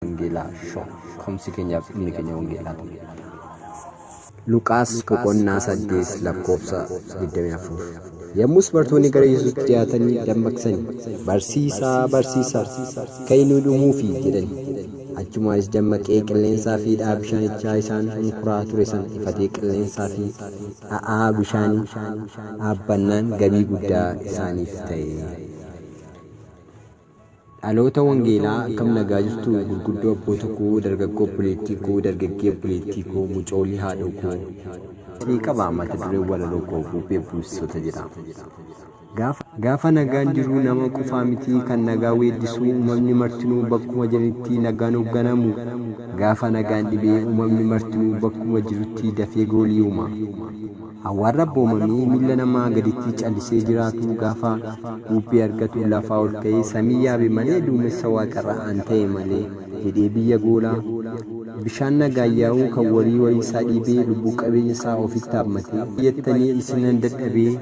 Wangeelaa Show. Komsi keenyaaf dhumni keenya wangeelaa ta'e. Luqaas boqonnaa 8 lakkoofsa 24. Yommus bartoonni gara Yesuusitti dhiyaatanii dammaqsanii, Barsiisaa, barsiisaa, ka'i nu dhumuufi jedhani. Achumaanis dammaqee qilleensaa fi dha'aa bishaanichaa isaan hunkuraa ture sana ifatee qilleensaa fi dha'aa bishaanii dhaabbannaan gabii guddaa isaaniif ta'e. Dhaloota wangeelaa akkam nagaa jirtu gurguddoo abboota koo dargaggoo obboleettii koo dargaggee obboleettii koo mucoolii haadhoo koo isinii qaba mata dureen walaloo koo bubbee buusisoota jedha. Gaafa Gaafa nagaan jiru nama qofaa miti kan nagaa weeddisu uumamni martinuu bakkuma jiranitti nagaan hoogganamu. Gaafa nagaan dhibee uumamni martinuu bakkuma jirutti dafee goolii uuma. Hawwaan rabboomamee milla namaa gaditti callisee jiraatu gaafa buubbee argatu lafaa ol ka'ee samii yaabe malee duumessa waaqarra an ta'e malee jedhee biyya goolaa. Bishaan nagaan yaa'uu kan warii warii isaa dhiibee lubbuu qabeenya isaa ofitti haammatee jettanii isinan dadhabee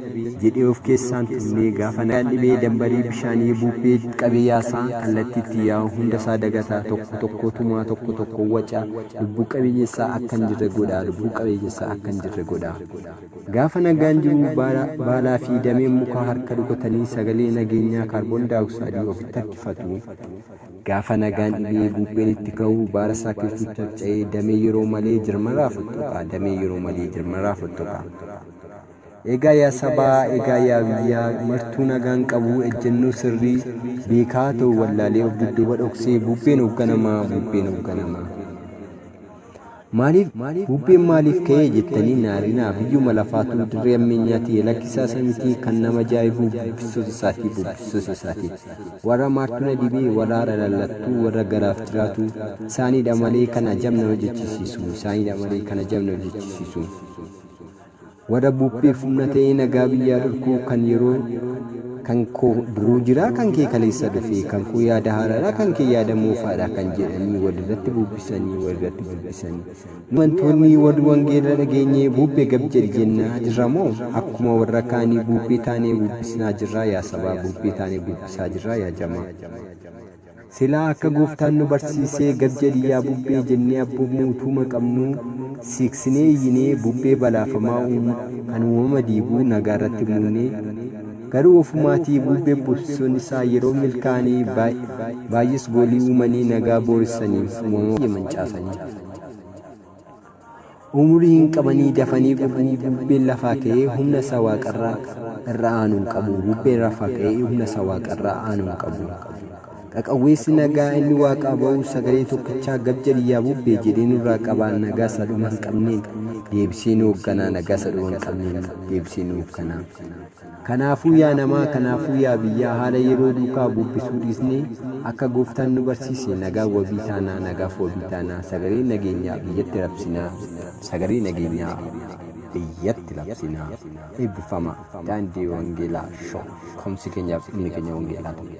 jedhee of keessaan tunnee gaafa nagaan dhibee dambarii bishaanii buubbee qabee yaasaa kallattii itti yaa'u hunda isaa dagataa tokko tokkoo tumaa tokko tokkoo wacaa Lubbuu qabeeyyessaa akka hin jirre godhaa Lubbuu qabeeyyessaa akka hin jirre godhaa Gaafa nagaan jiruu baalaa fi dameen mukaa harka rukutanii sagalee nageenyaa kaarboon daayoksaadii ofitti harkifatu Gaafa nagaan dhibee buubbeen itti ka'u baala saakiltuu carca'ee damee yeroo malee jirmarraa fottoqa damee yeroo malee jirmarraa fottoqa Egaa yaa sabaa, egaa yaa biyyaa, martuu nagaan qabuu ejjennoo sirrii, beekaa haa ta'u wallaalee of dudduuba dhoksee bubbeen hoogganamaa, bubbeen hoogganamaa. Maaliif, bubbeen maaliif ka'ee jettanii na arinaa biyyuma lafaatu dirree ammeenyaati lakkisaa isa miti kan nama ajaa'ibu bubbissoota isaatii bubbissoota isaatii. Warra maartuu na dhibee, warra haara lallattuu, warra garaaf jiraatu isaaniidha malee kan ajab nama jechisiisu, isaaniidha malee kan ajab nama jechisiisu. Wara buphee fumna ta'ee nagaa biyyaa dhorkuu kan yeroo kan koo duruu jiraa kan kee kaleessa dhufee kan koo yaada haaraadhaa kan kee yaada moofaadhaa kan jedhanii walirratti bubbisanii walirratti bubbisanii nu amantoonni warri wangeela dhageenye buubbee gab jedhi jennaa jirra moo akkuma warra kaanii buubbee taanee bubbisnaa jirraa yaa sabaa buubbee taanee bubbisaa jirraa yaa jamaa. Silaa akka gooftaan nu barsiisee gad jedhi yaa bubbee jennee abboomuu utuuma qabnuu siiqsinee iyyinee bubbee balaafamaa uumu kan uumama diigu nagaa irratti muudnee garuu ofumaatii buubbee buusisuun isaa yeroo milkaa'anii baay'ees goolii uumanii nagaa booressanii uumama mancaasanii. Umurii hin qabanii dafanii gubuu bubbeen lafaa ka'ee humna isa waaqarra irra aanu hin qabu bubbeen rafaa ka'ee humna isa waaqarra aanu hin qabu qaqawweessi nagaa inni waaqaa ba'u sagalee tokkichaa gab jedhi yaa bubbee jedhee nurraa qabaa nagaa isa dhuma hin qabneen deebisee nu hoogganaa nagaa isa dhuma hin qabneen deebisee nu hoogganaa. Kanaafuu yaa namaa, kanaafuu yaa biyyaa haala yeroo duukaa bubbisuu dhiisnee akka Gooftaan nu barsiise nagaan wabii taanaa, nagaaf wabii taanaa, sagalee nageenyaa biyyatti rabsinaa, sagalee nageenyaa biyyatti labsinaa. Eebbifamaa! Daandii Wangeelaa Show! Ka'umsi keenyaaf dhumni keenya Wangeelaa ta'uu.